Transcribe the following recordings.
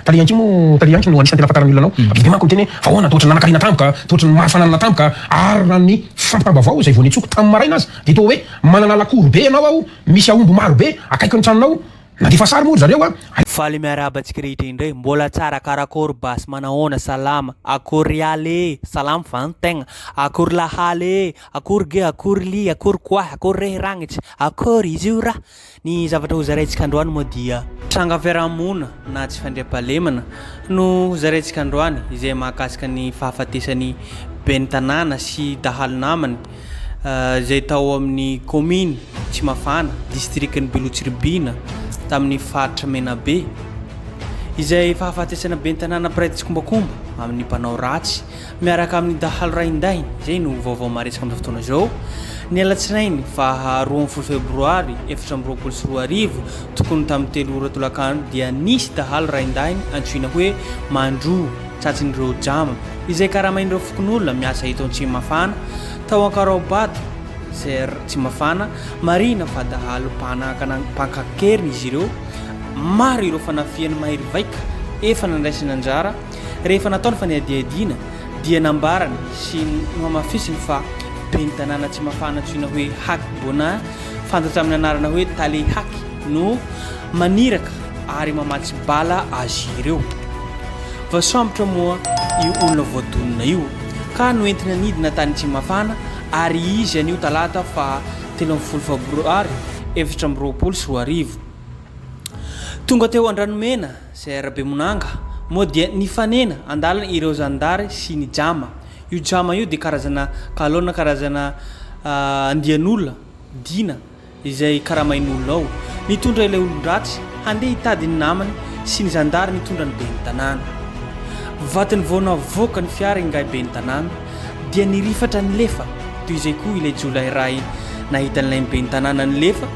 Tale Yanki moa, Tale Yanki no anisan'ny tena fantaran'ny olona anao. Be dia manko miteny hoe, fa ahoana, tohotry ny nanankarena tampoka, tohotry ny maro fananana tampoka, ary raha ny fampitam-baovao izay vao nitsoaka tamin'ny maraina aza dia toa hoe manana lakory be ianao ao, misy aomby maro be akaiky ny tranonao, nandefa sary moa ry zareo a. Faly miarahaba antsika rehetra indray, mbola tsara, karakôry basy, manahoana, salama, akôry ialy ee, salama va ny tegna, akôry lahaly ee, akôry ge, akôry lia, akôry koahy, akôry rehy ragnitry, akôry izy io ra, Ny zavatra hozaraintsika androany moa dia. Tranga fiaraha-monina na tsy fandriampahalemana no hozaraintsika androany izay mahakasika ny fahafatesan'ny Ben'ny tanàna sy dahalo namany izay tao amin'ny kaominy Tsimafana, distrikan'i Beloha-Tsiribihina tamin'ny faritra Menabe. Izay fahafatesana Ben'ny tanàna mpiray tsikombakomba amin'ny mpanao ratsy miaraka amin'ny dahalo raindahiny, izay no vaovao maresaka amin'izao fotoana izao. Ny alatsinainy faha roa ambin'ny folo febroary efatra amby roapolo sy roa arivo, tokony tamin'ny telo ora tolakandro, dia nisy dahalo raindahiny antsoina hoe Mandro, tratsin'ireo Jama, izay karamain'ireo fokonolona miasa eto Antsimafana, tao Ankaraobato, ser Tsimafana, marihina fa dahalo mpanakana mpankakeriny izy ireo, maro ireo fanafihana mahery vaika efa nandraisana anjara, Rehefa natao ny fanadihadiana dia nambarany sy nohamafisiny fa ben'ny tanàna Tsimafana antsoina hoe Haky Bona, fantatra amin'ny anarana hoe Tale Haky no maniraka ary mamatsy bala azy ireo. Voasambotra moa io olona voadonina io ka noentina nidina tany Tsimafana ary izy anio talata faha telo ambin'ny folo fabroary efatra amby roapolo sy roa arivo. Tonga teo Andranomena. Sir Bemonanga, moa dia nifanena an-dalana ireo zandary sy ny jama. Io jama io dia karazana galona, karazana andian'olona, dina, izay karamain'olona ao. Nitondra ilay olon-dratsy handeha hitady ny namany sy ny zandary nitondra ny ben'ny tanàna. Vatony vao navoaka ny fiara ingahy ben'ny tanàna dia nirifatra nilefa, toy izay koa ilay jiolahy iray nahita an'ilay ben'ny tanàna nilefa,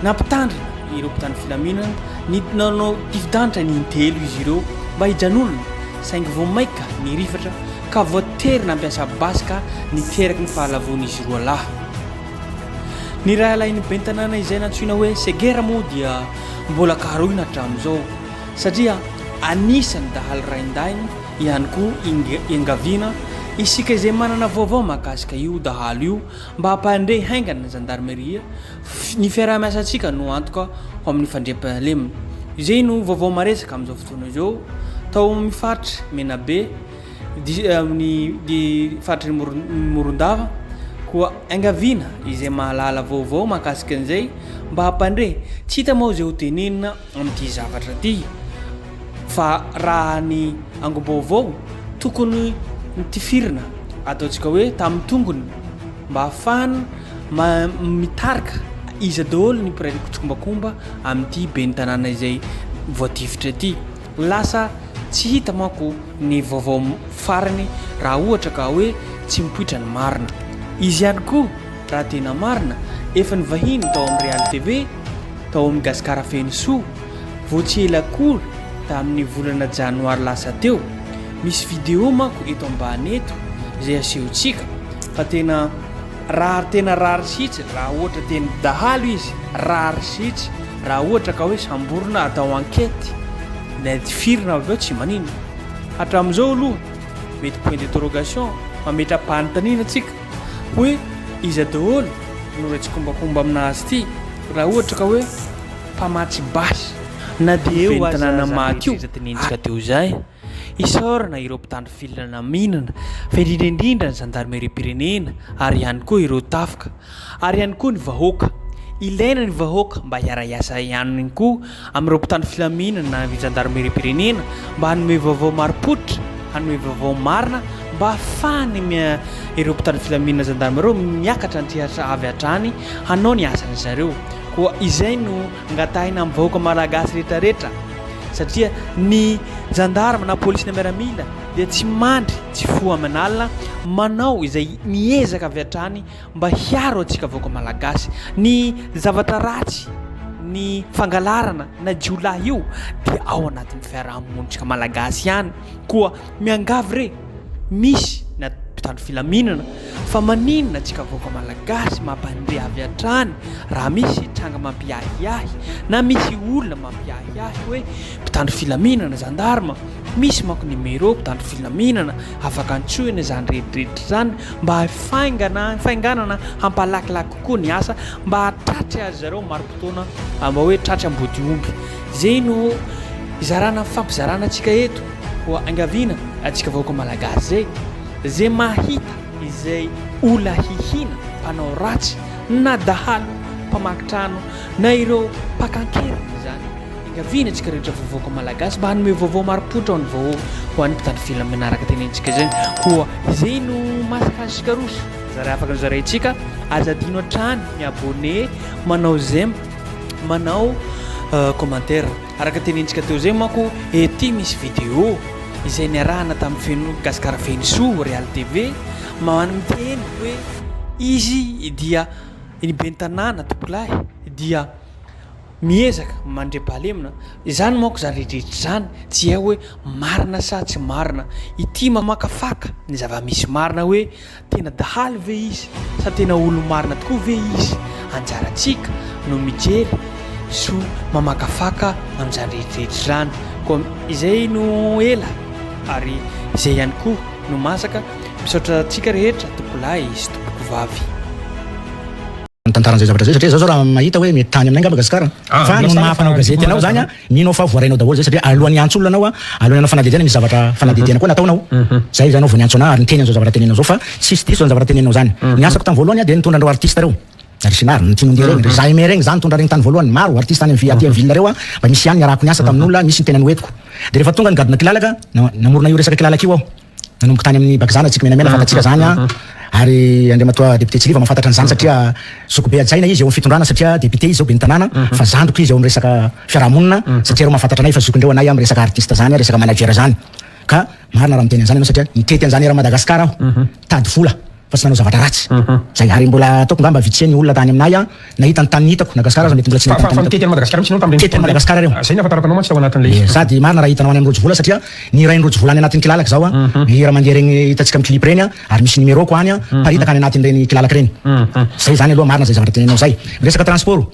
Nampitandrina ireo mpitandro filaminana nidina nanao difi-danitra ny intelo izy ireo mba hijanonana saingy vao maika nirifatra ka voatery nampiasa basy ka niteraky ny fahalavoan'izy roa lahy. Ny rahalahin'ny ben'ny tanàna izay nantsoina hoe Segera moa dia mbola karohina hatramin'izao satria anisan'ny dahalo raindahiny ihany koa iangaviana isika izay manana vaovao mahakasika io dahalo io Mba hampandre haingana ny Zandarmeria, ny fiaraha-miasantsika no antoka ho amin'ny fandriampahalemana. Izay no vaovao maresaka amin'izao fotoana izao tao amin'ny faritra Menabe, amin'ny faritry ny Morondava, koa iangaviana izay mahalala vaovao mahakasika an'izay mba hampandre. Tsy hita moa izay hotenenina amin'ity zavatra ity fa raha ny angom-baovao tokony nitifirina ataontsika hoe tamin'ny tongony mba hahafahana ma mitarika iza daholo ny mpiray tsikombakomba amin'ity ben'ny tanàna izay voatifitra ity lasa tsy hita manko ny vaovao farany raha ohatra ka hoe tsy mipoitra ny marina izy ihany koa raha tena marina efa ny vahiny tao amin'ny Real TV tao amin'ny Gasikara Fenosoa vao tsy ela akory tamin'ny volana janoary lasa teo. Misy vidéo manko eto ambany eto izay asehontsika fa tena rary tena rary sitsy raha ohatra teny dahalo izy rary sitsy raha ohatra ka hoe samborina atao enquête na tifirina avy eo tsy manina hatramin'izao aloha mety point d'interrogation mametra-panontaniana tsika hoe iza daholo no re tsikombakomba amina azy ity raha ohatra ka hoe mpamatsy basy na dia eo aza aza rehetra iza dinenjika dia ho zay isaorana ireo mpitandro filina naminana fa indrindra indrindra ny zandarimeriam-pirenena ary ihany koa ireo tafika ary ihany koa ny vahoaka ilaina ny vahoaka mba hiara-hiasa ihany koa amin'ireo mpitandro filaminana na ny zandarimeriam-pirenena mba hanome vaovao marim-pototra, hanome vaovao marina mba hahafahany ireo mpitandro filaminana zandarima ireo miakatra an-tsehatra avy hatrany hanao ny asan-dry zareo. Koa izay no angatahina amin'ny vahoaka malagasy rehetrarehetra satria ny zandarima na polisy na miaramila dia tsy mandry tsy foha aman'alina manao izay miezaka avy hatrany mba hiaro antsika vahoaka malagasy. Ny zavatra ratsy, ny fangalarana na jiolahy io dia ao anatin'ny fiaraha-monintsika malagasy ihany. Koa miangavy re, misy na mpitandro filaminana fa maninona antsika vahoaka malagasy mampandre avy hatrany raha misy tranga mampiahiahy na misy olona mampiahiahy hoe mpitandro filaminana, zandarma, Misy manko ny mairie mpitandro filaminana afaka antsoina izany rehetra izany mba hifaingana hifainganana hampalakilaky kokoa ny asa mba hahatratry azy zareo marim-potoana mba hoe tratry ambodiomby. Izay no hizarana fifampizarana antsika eto ho angaviana antsika vahoaka malagasy izay izay mahita izay olona hihina mpanao ratsy na dahalo mpamaky trano na ireo mpaka an-keriny izany. Iangaviana antsika rehetra vovoka Malagasy mba hanome vaovao marim-pototra ho an'ny vahoaka, ho an'ny mpitandro filaminana manaraka tenentsika izany koa izay no mahasahaza antsika roso zara afaka ny zaraintsika, aza adino hatrany mi abonner, manao j'aime, manao commentaire araka tenentsika teo zay manko ety misy vidéo izay niarahana tamin'ny feno Gasikara feno soa Real TV man miteny hoe izy dia ny ben'ny tanàna tompolahy dia Miezaka mandre balemina. Izany manko izany rehetra izany tsy hay hoe marina sa tsy marina. Ity mamakafaka ny zava-misy marina hoe tena dahalo ve izy sa tena olo-marina tokoa ve izy. Anjarantsika no mijery so mamakafaka amin'izany rehetrarehetra izany. Koa izay no ela ary izay ihany koa no masaka. Misaotra antsika rehetra tompolahy sy tompokovavy. Mitantara an'izay zavatra izay satria izaho izao raha mahita hoe mety tany aminay angamba Gasikara an! Fa noho ny maha mpanao gazety anao izany an, mino aho fa voarainao daholo izay satria alohan'ny hiantso olona anao an, alohan'ny hanao fanadihadiana misy zavatra fanadihadiana koa nataonao. Izay izany aho vao niantso anà ary niteny an'izao zavatra teneninao izao fa tsisy diso izany zavatra teneninao izany. Ny asako tamin'ny voalohany an dia nitondra an'ireo artista ireo, ry Sinary, ny Tianondia ireny, ry Zaheme ireny, izaho nitondra ireny tany voalohany, maro artista any amin'ny aty amin'ny ville ireo an, mba nisy ihany niarahako niasa tamin'olona, nisy ny tena noentiko. Dia rehefa tonga ny gadona kilalaka, namorona io resaka kilalaka io aho. Nanomboka tany amin'ny bakizana Tsikymenamena fantatsika izany an! ary Andriamatoa Député Tsiliva mahafantatra an'izany satria zokibe hajaina izy eo amin'ny fitondrana satria Député izy izao ben'ny tanàna fa zandriko izy eo amin'ny resaka fiarahamonina satria ireo mahafantatra anay fa zokindreo anay amin'ny resaka artiste izany an, resaka manager izany ka marina raha miteny an'izany ianao satria nitety an'izany eran'i Madagascar aho tady vola. fa tsy nanao zavatra ratsy zay ary mbola ataoko ngamba vitsé ny olona tany aminay an nahita ny tany nitako Nagasikara aza mety mbola tsy nahita ny tany nitako tety Madagascar ireo zay ny ahafantarako anao mantsy tao anatin'ilay izy sady marina raha hitanao any amin'ny Rojovola satria ny rain'i Rojovola any anatin'ny kilalaka zao an ny hira mandeha regny hitantsika amin'ny clip regny an ary misy numéro ko any an miparitaka any anatin'ireny kilalaka ireny zay zany aloha marina zay zavatra teneninao zay miresaka transport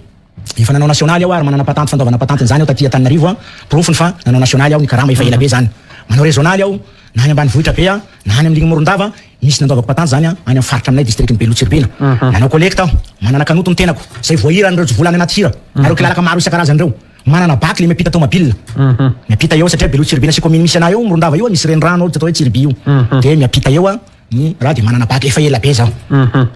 Efa nanao nasionaly aho ary manana patanty fandoavana patanty an'izany aho taty Antananarivo, porofony fa nanao nasionaly aho, ny karama efa ela be izany. Manao rezonaly aho, na any ambanivohitra be na any amin'irigny Morondava, misy nandoavako patanty izany any amin'ny faritra aminay distrikan'i Beloha Tsiribihina. Manao kolekta aho, manana kanoto ny tenako, izay voahira an'ireo jivola any anaty hira, na ireo kilalaka maro isan-karazany ireo. Manana bac le miampita tômabila, miampita eo aho satria Beloha Tsiribihina sy kaominy misy anah eo, Morondava io, misy renirano ao atao hoe Tsiriby io, dia miampita eo aho. Izaho dia manana bac efa ela be izao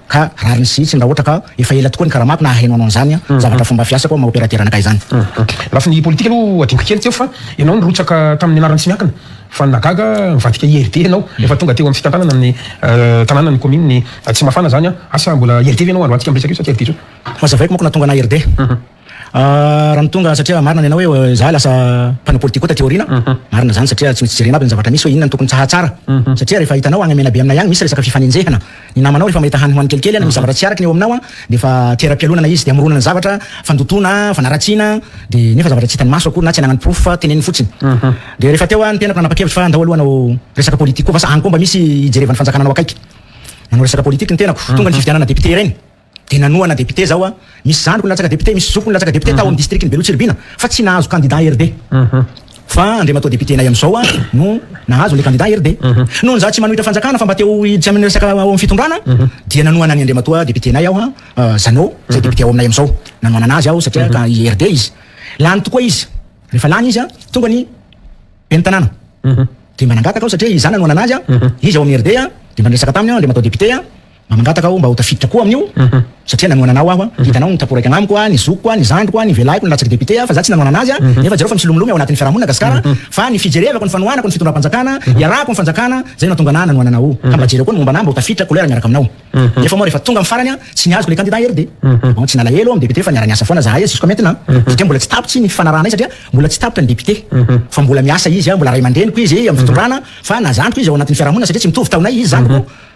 ka rariny sy hitsiny raha ohatra ka efa ela tokoa ny karamako na haheno hanao an'izany aho, zavatra fomba fiasako maha opérateur anakay izany. Lafiny politika aloha hadinoko kely tsy eo fa ianao nirotsaka tamin'ny anaran'i tsy miankina fa nagaga nivadika IRD ianao efa tonga teo amin'ny fitantanana amin'ny tanàna ny kaominina Tsimafana izany an! Asa mbola IRD ve ianao? Alohantsika miresaka io sa tsy IRD intsony. Ho hazavaiko manko nahatonga anah IRD. Raha ny tonga satria marina ny anao hoe izaho lasa mpanao politika koa taty aoriana, marina izany satria tsy misy jerena aby ny zavatra misy hoe inona no tokony tsaha tsara. Satria rehefa hitanao any Menabe aminay any misy resaka fifanenjehana. Ny namanao rehefa mahita hany hoany kelikely na misy zavatra tsy araka ny eo aminao dia efa teram-pialonana izy dia amoronana zavatra, fandotoana, fanaratsiana dia nefa zavatra tsy hitan'ny maso akory na tsy ananany porofo fa teneniny fotsiny. Dia rehefa teo aho ny tenako nanapa-kevitra fa andao aloha hanao resaka politika koa vasa any koa mba misy hijerevan'ny fanjakana anao akaiky. Nanao resaka politika ny tenako tonga ny fifidianana député ireny. Dia nanohana député zaho a. Misy zandriko nilatsaka député, misy zokiko nilatsaka député tao amin'ny distrikan'i Beloha Tsiribihina fa tsy nahazo candidat RD. Fa Andriamatoa député-nay amin'izao a no nahazo an'ilay candidat RD. Noho ny za tsy manohitra fanjakana fa mba te ho hiditra amin'ny resaka ao amin'ny fitondrana dia nanohana an'i Andriamatoa député-nay aho a, Jeannot, izay député ao aminay amin'izao. Nanohanana azy aho satria ka i RD izy. Lany tokoa izy. Rehefa lany izy a, tonga ny ben'ny tanàna. Dia mba nangataka aho satria i za nanohanana azy a, izy ao amin'ny RD a, dia mba niresaka taminy aho, Andriamatoa député a, Mangataka aho mba ho tafiditra koa amin'io satria nanohana anao aho, hitanao ny taporaiky agnamiko a, ny zokiko a, ny zandriko a, ny velahiko ny latsaky député a, fa za tsy nanohana anazy a, nefa jereo fa misilomiloma eo anatin'ny fiarahamonina Gasikara, fa ny fijerevako ny fanohanako ny fitondram-panjakana, iarahako ny fanjakana, zay no nahatonga anahy nanohana anao, ka mba jereo koa ny momba anahy mba ho tafiditra couleur miaraka aminao, nefa moa rehefa tonga amin'ny farany a, tsy niazoko le candidat RD, bon tsy nalahelo amin'ny député fa niara-niasa foana zahay jusqu'à maintenant, satria mbola tsy tapitry ny fifanarahanay satria mbola tsy tapitra ny député, fa mbola miasa izy a, mbola ray aman-dreniko izy amin'ny fitondrana, fa na zandriko izy ao anatin'ny fiarahamonina satria tsy mitovy taonay izy zandriko,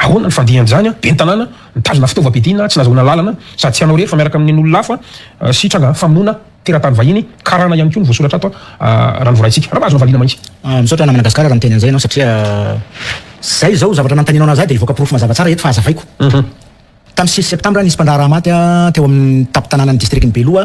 Ahoana ny fandian'izany an? Ben'ny tanàna nitazona fitaovam-piadiana tsy nahazoana alalana sady tsy hanao irery fa miaraka amin'ny nen'olona hafa sy tranga famonoana teratany vahiny, karana ihany koa no voasoratra ato raha ny voaraintsika. Raha mba azonao valiana mantsy. Misaotra namana Gasikara raha miteny an'izay ianao satria izay izao zavatra nanontanianao an'ahy izay dia hivoaka porofo mazava tsara eto fa hazavaiko. Tamin'ny sivy septambra nisy mpandraharaha maty teo amin'ny tampon-tanànan'ny distrikan'i Beloha,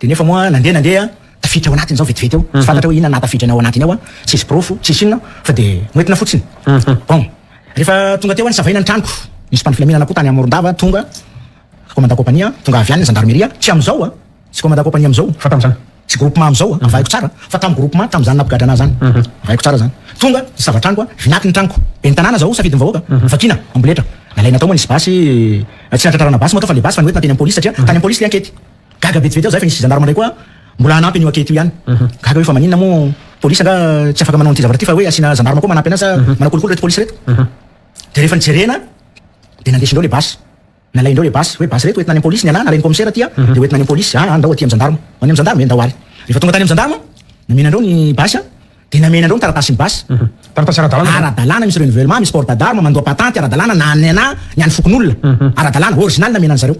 Dia nefa moa nandeha nandeha tafiditra ao anatiny zao vetivety eo, tsy fantatra hoe inona nahatafiditra anao anatiny ao an, tsisy porofo, tsisy inona fa dia noentina fotsiny. Bon, rehefa tonga teo an savaina ny tranoko, nisy mpano filaminana koa tany Morondava tonga, commandant compagnie an, tonga avy any ny gendarmerie, tsy amin'izao an, tsy commandant compagnie amin'izao, fa tamin'izany, tsy groupement amin'izao an, avahiko tsara an, fa tamin'ny groupement tamin'izany nampigadra anah zany, avahiko tsara zany, tonga nisava tranoko an, vinaky ny tranoko, ben'ny tanàna zao safidin'ny vahoaka, vakina, amboletra, nalaina tao moa nisy basy, tsy nahatratrarana basy moa tao fa le basy fa noentina teny am polisy satria tany am polisy le ankety. Gaga vetivety aho izay fa nisy gendarme indray koa mbola hanampy an'io ankety io ihany. Gaga hoe fa maninona moa police angaha tsy afaka manao an'ity zavatra ity fa hoe asiana gendarme koa manampy anazy sa manao kolikoly ireto police ireto. Dia rehefa nijerena dia nandesindreo ilay basy. Nalaindreo ilay basy hoe basy ireto hoentina any amin'ny police ny anah nalain'ny commissaire aty dia hoentina any amin'ny police, any ndao aty amin'ny gendarme, any amin'ny gendarme ve ndao ary. Rehefa tonga tany amin'ny gendarme nomena andreo ny basy. Dia namena anareo ny taratasin'ny basy. Taratasy ara-dalàna. Ara-dalàna misy renouvellement, misy port d'arme, mandoa patenty ara-dalàna na an'ny anà, ny an'ny fokonolona. Ara-dalàna, original namena an'zareo.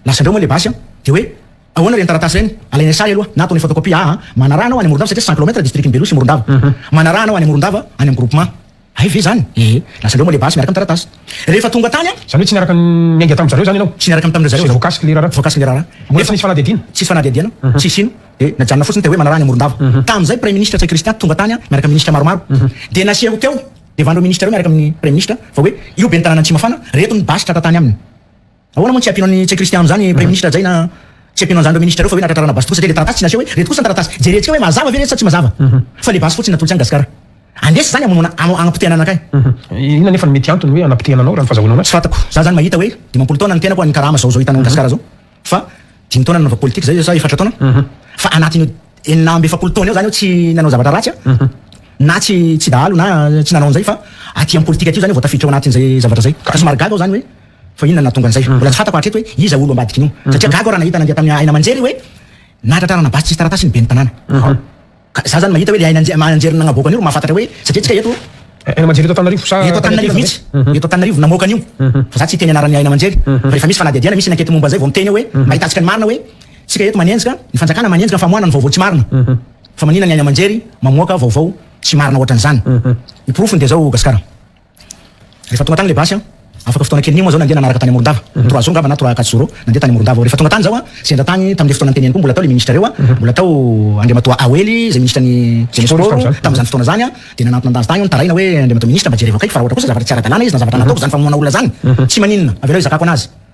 Lasan'dreo moa ilay basy an! Dia hoe, ahoana ireny taratasy ireny? Alainay sahy aloha, na ataonay photocopie, aa, manaraha anao any Morondava satria cent kilomètre district-n'i Beloha sy Morondava. Manaraha anao any Morondava, any amin'ny groupement. Hay ve zany? Ee, lasa leo moa le basy miaraka am taratasy rehefa tonga tany an! Zany hoe tsy niaraka niainga tam zareo zany ianao? Tsy niaraka tamindreo zareo za. Tsy voakasiky le raharaha? Voakasiky le raharaha. Mbola tsy nisy fanadihadiana? Tsisy fanadihadiana, tsisy ino, dia najanona fotsiny teo hoe manaraha any Amorondava. Tamin'izay praiminisitra Ntsay Christian tonga tany an miaraka minisitra maromaro, dia naseho teo devan ireo minisitra ireo miaraka amin'ny praiminisitra fa hoe io ben'ny tanàna Antsimafana reto ny basy tratra tany aminy. Ahoana moa no tsy ampiana ny tsy kristiano izany praiminisitra Jay na tsy ampiana an'izany ireo minisitra ireo fa ve ilay tratrarana basy tokoa satria ilay taratasy tsy naseho hoe ireto kosa ny taratasy jerentsika hoe mazava ve ireto sa tsy mazava fa ilay basy fotsiny natolotry an'i Gasikara andresy izany hamonoana hanapotehana anakay. Inona anefa no mety antony hoe hanapotehana anao raha ny fazahoana anao? Tsy fantako, za zany mahita hoe dimampolo taona ny tenako any karama zao zao hitanao an'i Gasikara zao fa dimy taona nanaovako politika zay sa efatra taona fa anatin'io enina amby efapolo taona io zany aho tsy nanao zavatra ratsy an na tsy tsy dahalo na tsy nanao an'izay fa aty amin'ny politika aty io zany aho vao tafiditra ao anatin'izay zavatra zay ka somary gaga aho zany hoe Fa inona no nahatonga an'izay? Mbola tsy fantako hatreto hoe iza olo ambadiky ny io. Satria gaga aho raha nahita nandeha tamin'ny haina aman-jery hoe nahatratrarana basy tsisy taratasy ny ben'ny tanàna. Ka za zany mahita hoe le haina aman-jery nagnaboaka an'io ro mahafantatra hoe satria antsika eto. Haina aman-jery eto Antananarivo sa. Eto Antananarivo mihitsy. Eto Antananarivo namoaka an'io. Fa za tsy hiteny anaran'ny haina aman-jery. Fa rehefa misy fanadihadiana, misy enquete momba an'izay vao miteny aho hoe mahitantsika ny marina hoe tsika eto manenjika, ny fanjakana manenjika ny famoahana ny vaovao tsy marina. Fa maninona ny haina aman-jery mamoaka vaovao tsy marina ohatran'izany. Ny porofony dia zao Gasikara. Rehefa tonga tany ilay basy, afaka fotoana kelin'iny moa izao nandeha nanaraka tany Morondava, trois jours angamba na trois à quatre jours eo, nandeha tany Morondava aho. Rehefa tonga tany izaho, sendra tany tamin'ilay fotoana niteneniko io, mbola tao ilay minisitra ireo, mbola tao Andriamatoa Awely izay minisitran'ny Jeunesse Sport tamin'izany fotoana izany an, dia nanantona azy tany aho nitaraina hoe, Andriamatoa Minisitra, mba jereo akaiky fa raha ohatra kosa zavatra tsy ara-dalàna izy na zavatra nataoko izany famonoana olona izany, tsy maninona, avelao hizakako an'azy.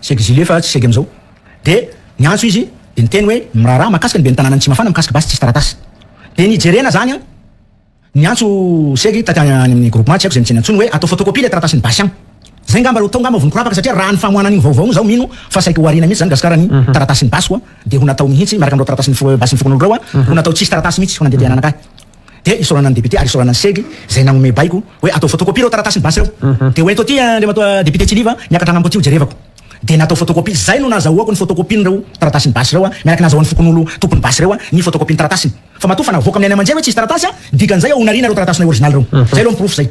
Sec Zile fa tsy sec amizao. De niantso izy de niteny hoe ny miraharaha mahakasika ny ben'ny tananan'i Tsimafana mikasika basy tsisy taratasy. De ny jerena zany an, niantso sec taty any amin'ny groupement tsy haiko zay nitsena intsony hoe atao photocopie le taratasin'ny basy an. Zay ngamba ro atao ngamba vao nikorapaka satria raha ny famoahana an'igny vaovao igny zaho mino fa saiky ho ariana mihitsy zany Gasikara ny taratasin'ny basiko an, de ho natao mihitsy miaraka am'ireo taratasin'ny basin'ny fokonolona ireo an, ho natao tsisy taratasy mihitsy ho nandeha te hananaka ahy. dia isaorana ny député ary isaorana ny segy izay nanome baiko hoe atao photocopie ireo taratasy ny basy ireo mhm. dia ho ento aty andriamatoa député Tsiliva niakatra anambo aty ho jerevako dia natao photocopie izay no nazahoako ny photocopie ireo taratasy ny basy ireo miaraka nazahoan'ny fokonolo tompon'ny basy ireo ny photocopie ny taratasiny fa matoa fa navoaka amin'ny any aman-jery hoe tsisy taratasy dikan'izay ao onariana ireo taratasy original ireo mhm. izay aloha ny porofo izay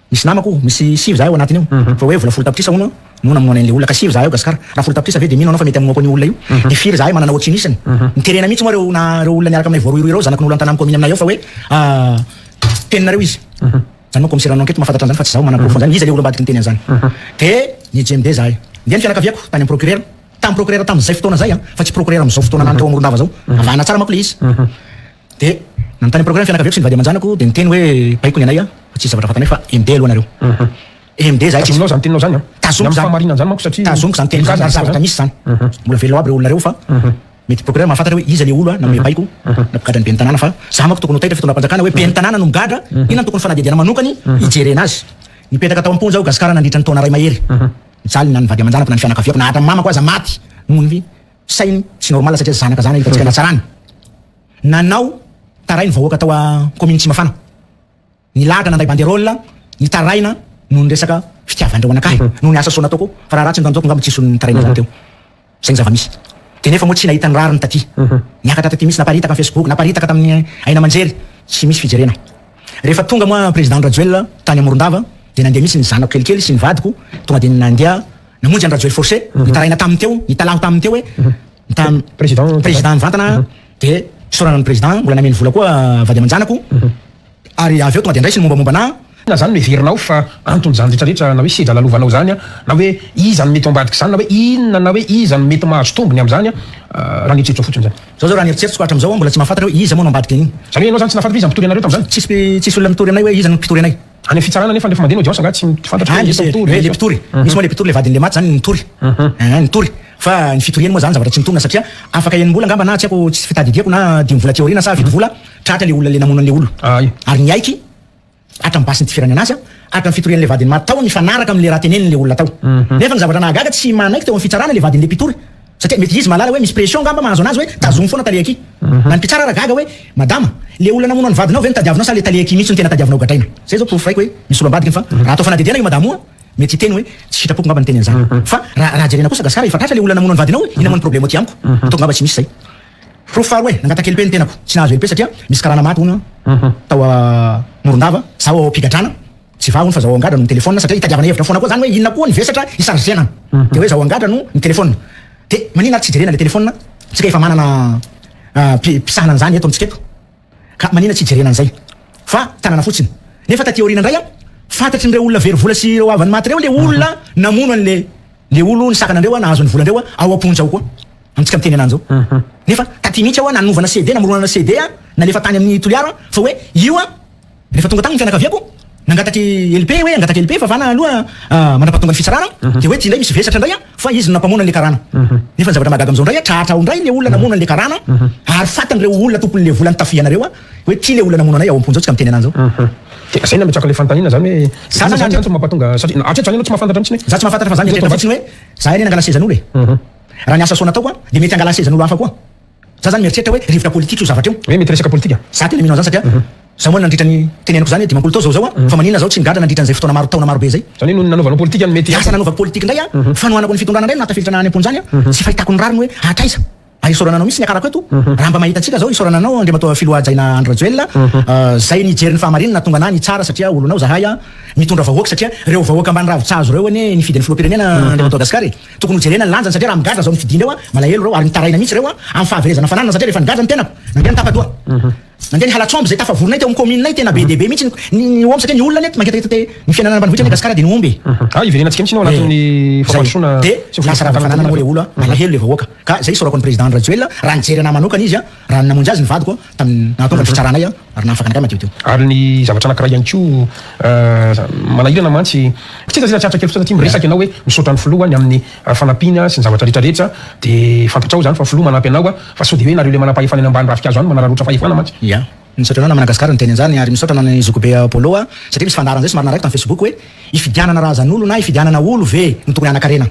Misy namako misy sivy zahay ao anatiny ao fa hoe vola folo tapitrisa hono no namonoana an'ilay olona ka sivy zahay ao Gasikara raha folo tapitrisa ve dia mino anao fa mety hamonoako an'io olona io dia firy zahay manana ohatry inisany miterena mihitsy moa ireo na ireo olona miaraka aminay voarohirohy ireo zanakin'olo an-tanàn'ny kaominy aminay ao fa hoe teninareo izy zany moa kaomisera an'enquete mahafantatra an'izany fa tsy zaho manana porofo an'izany iza ilay olom-badiko niteny an'izany dia nijembe zahay ndeha ny fianakaviako tany amin'ny procurera tamin'ny procurera tamin'izay fotoana izay fa tsy procurera amin'izao fotoana lany tao Morondava izao avahana tsara manko ilay izy Dia nanontany procureur ny fianakaviako sy ny vady aman-janako dia niteny hoe baiko ny anay aho fa tsisy zavatra vatana ahy fa MD aloha nareo. MD izahay tsisy. Tazominao izany teninao izany an. Tazomiko izany. Ny fahamarinan izany manko satria. Tazomiko izany teny izany ary zavatra misy izany. Mbola velona ao aby ireo olona ireo fa mety procureur mahafantatra hoe iza ilay olo nanome baiko na mpigadra ny ben'ny tanàna fa izaho manko tokony ho taitra fitondram-panjakana hoe ben'ny tanàna no migadra inona no tokony fanadihadiana manokany hijerena azy. Nipetraka tao am-ponja aho Gascar nandritra ny taona iray mahery. Mijaly ny an'ny vady aman-janako na ny fianakaviako na hatram'ny mamako aza maty noho ny. Sainy tsy normal satria zanaka zany hitantsika natsarany nanao tarainy vahoaka tao a commune tsimafana nilahatra nandray banderole nitaraina noho ny resaka fitiavandreo anakahy noho ny asa soa nataoko fa raha ratsy ny tanjoko ngamba tsy hisy nitaraina zany teo zay ny zavamisy de nefa moa tsy nahita ny rariny taty niakatra taty misy naparitaka am facebook naparitaka taminy aina amanjery tsy misy fijerena rehefa tonga moa president rajoelina tany amorondava de nandeha misy ny zanako kelikely sy ny vadiko tonga de nandeha Namonjy an'i Rajoel Force, nitaraina taminy teo, nitalaho taminy teo hoe tam Président président mivantana aho dia isaorana ny président mbola nameno vola koa vady aman-janako ary avy eo tonga dia andraisiny mombamomba anah. Inona izany no heverinao fa anton'izany rehetrarehetra na hoe sedra lalaovana izany na hoe iza no mety ho ambadik'izany na hoe inona na hoe iza no mety mahazo tombony amin'izany raha ny eritreritrao fotsiny izany? Izao izao raha ny eritreritriko hatram'izao aho mbola tsy mahafantatra hoe iza moa no ambadika an'iny. Izany hoe ianao izany tsy nahafantatra hoe iza mpitory anareo tamin'izany? Tsisy tsisy olona nitory anay hoe iza no mpitory anay. Any fitsarana nefa refa mandeha ny audience angaha tsy fantatra hoe iza mpitory hoe le mpitory misy moa le mpitory le vadin'le maty zany nitory ah nitory fa ny fitoriany moa zany zavatra tsy mitombina satria afaka enim-bola angamba na tsy haiko tsy fitadidiako na dimy vola aty aoriana sa fito vola tratra le olona le namono an'le olona ary niaiky hatram basiny tifirany anazy an hatram fitorian'le vadin'ny maty tao nifanaraka amle raha teneniny le olona tao nefa ny zavatra nahagaga tsy manaiky teo am fitsarana le vadin'le mpitory Satria mety izy mahalala hoe misy pression angamba mahazo anazy hoe tazomy foana tale aky. Na ny mpitsara ara gaga hoe, madama, le olona namono an'i vadinao ve no tadiavinao sa le tale aky mihitsy no tena tadiavinao gadraina? Zay zao porofo raiko hoe misolo ambadikiny fa raha atao fanadihadiana io madama o, mety hiteny hoe tsy sitrapoko angamba niteny an'izany. Fa raha raha jerena kosa gasy ara efa tratra le olona namono an'i vadinao e, ina moa ny problemo aty amiko? Ataoko angamba tsy misy zay. Porofo faharoa e, nangataky LP ny tenako, tsy nahazo LP satria misy karana maty hono tao Morondava, zaho ao am-pigadrana. Tsy vahony fa zao angadra no mitelefona satria itadiavana hevitra fona koa zany hoe inona koa ny vesatra hisarge fiainana de hoe zao angadra no mitelefona de manina ary tsy jerena le telefona tsika efa manana mpisahana an'izany eto amintsika eto ka manina tsy hijerena an'izay fa tanana fotsiny nefa taty aoriana indray an fantatrin'ireo olona very vola sy ireo havany maty reo le olona namono an'le le olo nisakana andreo an nahazo ny vola andreo an ao amponja ao koa amintsika miteny anany zao nefa taty mihitsy aho an nanovana CD namoronana CD an nalefa tany amin'ny toliara an fa hoe io an Rehefa tonga tany ny fianakaviako, nangatak'i LP hoe angataka LP favana aloha mandrapahatonga ny fitsarana, dia hoe ty indray misy vesatra indray fa izy no nampamono an'le karana. Nefa ny zavatra mahagaga amizao indray, tratra ao indray le olona namono an'le karana, ary fatin'ireo olona tompon'le vola nitafianareo hoe ty le olona namono anay ao am-ponja ao tsy ka miteny anany zao. Dia zay no ametraka le fanontaniana zany hoe, za zany hatreto no mampatonga, satria hatreto zany enao tsy mahafantatra mitsiny hoe. Za tsy mahafantatra fa za mieritreritra fotsiny hoe, za anie nangala sezan'olo e. Raha ny asa soa nataoko, dia mety hangala sezan'olo hafa koa. Za zany mieritreritra hoe rivotra politika io zavatra io. Hoe mety resaka politika? Za tena mino an'zany satria za moa nandritra ny teneniko zany hoe dimampolo tao zao zao an, fa maninona zaho tsy nigadra nandritra an'izay fotoana maro taona maro be izay? Zany hoe noho ny nanaovanao politika no mety. Lasa nanaovako politika indray an, fanohanako ny fitondrana indray no nahatafiditra naha any am-pony zany an, tsy fahitako ny rariny hoe hatraiza? Ary isaorana anao mihitsy ny akarako eto, raha mba mahita antsika zao, isaorana anao Andriamatoa Filoha Hajaina Andry Rajoelina, zay nijery ny fahamarinana nahatonga anah nitsara satria olonao zahay an, mitondra vahoaka satria reo vahoaka ambany ravin-tsahazo reo anie nifidy ny Filoham-pirenena Andriamatoa Gascar e. Tokony ho jerena ny lanjany satria raha migadra zao ny fidiana eo a, malahelo reo ary mitaraina mihitsy reo a, amin'ny fahaverezana fananana satria rehefa nigadra ny tenako, nandeha ny tapadoha. Nandeha ny halatr'omby izay tafavorinay teo amin'ny kaomininay, tena be dia be mihitsy ny ny omby satria ny olona anie mangetaheta te ny fiainana any ambanivohitra anie Gasikara dia ny omby e. Ah hiverenantsika mihitsy ny ao anatin'ny fampandrosoana sy ny fomba fitantanana ny olona. Dia lasa rava-fananana moa le olona a, malahelo le vahoaka. Ka izay isaorako an'i Président Andry Rajoelina, raha nijery anahy manokana izy a, Raha ny namonjy azy ny vadiko tamin'ny nahatonga ny fitsaranay ary nahafaka anakay madio teo. Ary ny zavatra anankiray ihany koa manahirana mantsy, kitiana zay raha tsiaritra kely fotsiny satria miresaka ianao hoe misaotra ny filoha ny amin'ny fanampiana sy ny zavatra rehetra rehetra dia fantatrao izany fa filoha manampy anao fa sao dia hoe nareo ilay manam-pahefana eny ambany ravinkazo any manararaotra fahefana mantsy. Ya, misaotra anao na Managascar niteny an'izany ary misaotra anao ny zokibe Apollo a, satria misy fandaharana zay somary narahiko tam Facebook hoe ifidianana razan'olo na ifidianana olo ve no tokony hanakarena?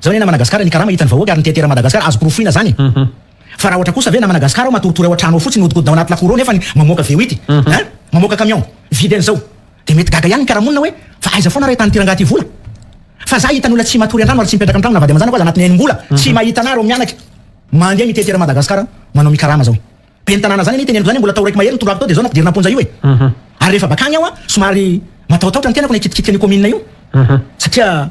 Zao anie na Managascar ny karama hitan'ny vahoaka ary ny teteran'i Madagascar azo porofoina zany e! Fa raha ohatra kosa ve na Managascar ao matoritory ao an-trano ao fotsiny mihodinkodina ao anaty lafouro ao nefa ny mamoaka VOIT hein mamoaka camion vide an'izao dia mety gaga ihany ny mpiara-monina hoe fa aiza foana ary ahitan'ity rangahy ity vola fa za hita ny olona tsy matory an-trano ary tsy mipetraka an-trano na vady aman-janako aza anatin'ny enim-bola tsy mahita anah reo mianaka mandeha mitety ery Madagascar manao mikarama zao ben'ny tanàna zany anie teneniko zany mbola tao raiko mahery ny toroako tao dia zao nampidirina am-ponja io e ary rehefa bakany aho a somary matahotahotra ny tenako na hikitikitika an'io commune io satria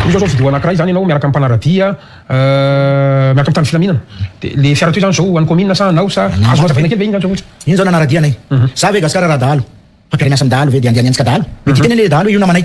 Ohatra zao vidéo anakiray zany enao miaraka am mpanaradia miaraka am mpitandro filaminana de le fiara toy zany zao ho any commune sa anao sa azonao azavaina kely ve iny zany zao ohatra iny zao nanaradia anay za ve gasikara raha dahalo fampiharena asam dahalo ve de andiany antsika dahalo de titeny anie le dahalo hoe io namanay